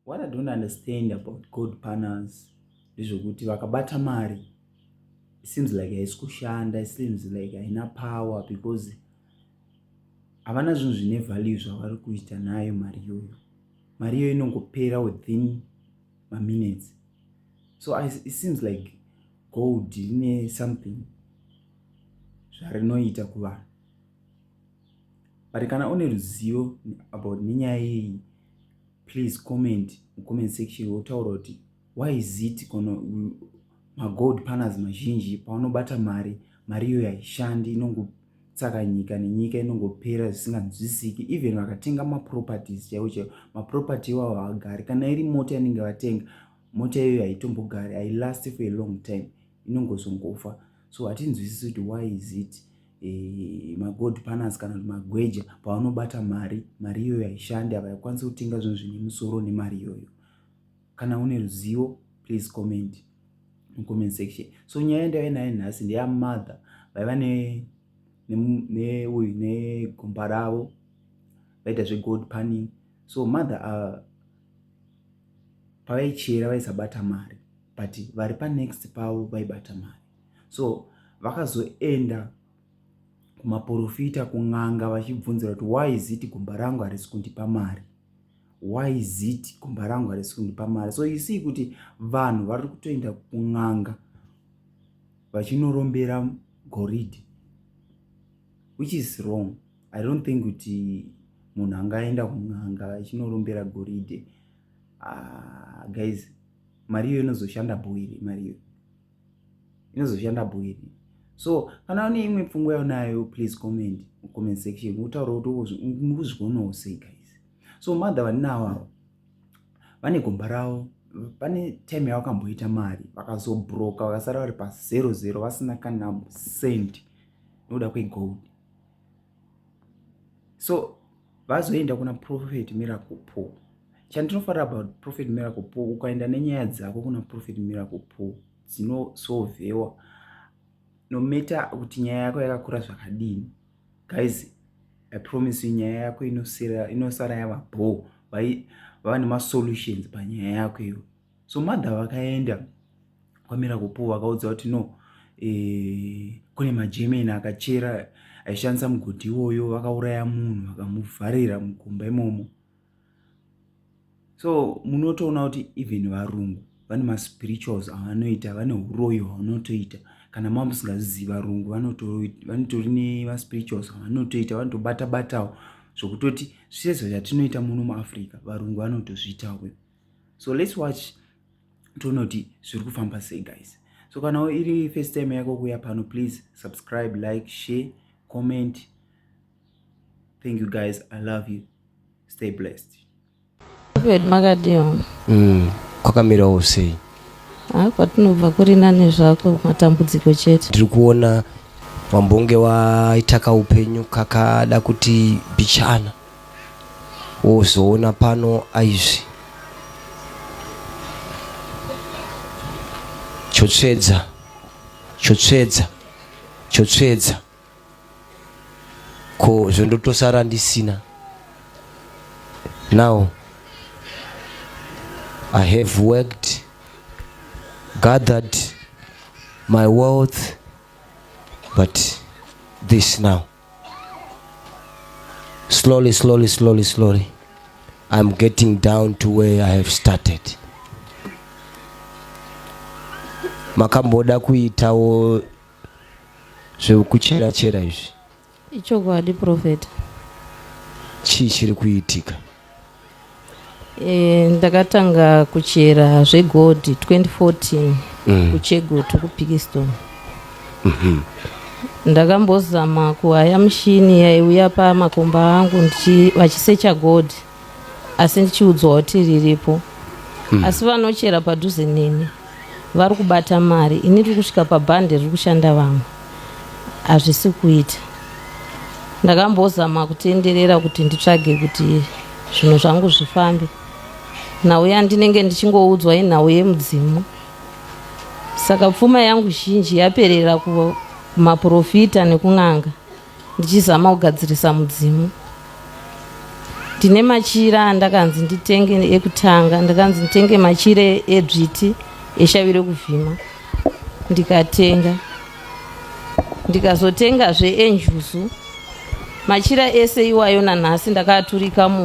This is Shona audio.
what i don't understand about god partners ndezvekuti vakabata mari it seems like haisi kushanda it seems like haina power because havana zvinhu zvine value zvavari kuita nayo mari iyoyo mari iyoyo inongopera within maminutes so I, it seems like gold ine something zvarinoita kuvanhu but kana une ruzivo about nenyaya yeyi please comment mucomment section wotaura kuti why is it kono magold panas mazhinji paunobata mari mari iyoyo haishandi inongotsaka nyika nenyika inongopera zvisinganzwisiki even vakatenga maproperties chaivo chaivo maproperty iwavo haagari kana iri mota inenge vatenga mota iyoyo haitombogari hailast for a long time inongozongofa so hatinzwisisi kuti why is it e, magold panas kana kuti magweja pavanobata mari mari iyoyo haishandi ava yakwanisa kutenga zvinhu zvine musoro nemari iyoyo kana une ruzivo please comment mucomment section so nyaya ndaive naye nhasi ndeyamother vaiva neuyu negomba ravo vaita zvegold panning so mother uh, pavaichera vaisabata mari but vari panext pavo vaibata mari so vakazoenda kumaporofita kun'anga vachibvunzira kuti why is it gumba rangu harisi kundipa mari why is it gumba rangu harisi kundipa mari so you see kuti vanhu vari kutoenda kun'anga vachinorombera goridhe which is wrong i don't think kuti munhu angaenda kun'anga achinorombera goridhe uh, guys mari iyo inozoshanda boire mari iyo inozoshanda bhuiri so kana une imwe pfungwa yaunayo please comment comment section utaura kuti mukuzvionawo sei guys so mother vaninawawo vane gomba ravo pane time yavakamboita mari vakazobroka vakasara vari pazero zero vasina kana cent nokuda kwegold so vazoenda kuna prophet miracle paul chandinofarira about prophet miracle paul ukaenda nenyaya dzako kuna prophet miracle paul dzinosolvewa nometa kuti nyaya yako yakakura zvakadini guys i promise you nyaya yako inosara yava bho vava nemasolutions panyaya yako iyo so mother vakaenda kwamira kupo vakaudza kuti no e, kune magermany akachera aishandisa mugodhi iwoyo vakauraya munhu vakamuvharira mugomba imomo so munotoona kuti even varungu vane maspirituals avanoita vane uroyo hwavanotoita kana mava musingazizi varungu vanotori nemaspirituals avanotoita vanotobatabatawo zvokutoti zvisezo zvatinoita muno muafrica varungu vanotozviitawo so let's watch tonoti zviri kufamba sei guys so kana iri first time yako kuya pano please subscribe like share comment thank you guys i love you stay blessed makadiwa mm, kwakamira usei ah, kwatinobva kuri nane zvako matambudziko chete tiri kuona wambonge waitaka upenyu kakada kuti bichana wozoona pano aizvi chotsvedza chotsvedza chotsvedza ko zvondotosara ndisina now i have worked gathered my wealth but this now slowly slowly slowly slowly i'm getting down to where i have started makamboda kuitawo zvekuchera chera izvi ichokwadi profeta chii chiri kuitika Eh, ndakatanga kuchera zvegold 2014 mm. kuchegutu kupikisto mm-hmm. ndakambozama kuhaya mushini yaiuya pamakomba angu vachisecha gold asi ndichiudzwa kuti riripo mm. asi vanochera padhuze neni Vari kubata mari ini tiri kusvika pabhande riri kushanda vamwe hazvisi kuita ndakambozama kutenderera kuti nditsvage kuti zvinhu zvangu zvifambe nhau yandinenge ndichingoudzwa inhau yemudzimu saka pfuma yangu zhinji yaperera kumaprofita nekun'anga ndichizama kugadzirisa mudzimu ndine machira andakanzi nditenge ekutanga ndakanzi nditenge machira edzviti eshavi rekuvhima ndikatenga ndikazotengazve enjuzu machira ese iwayo nanhasi ndakaaturika mu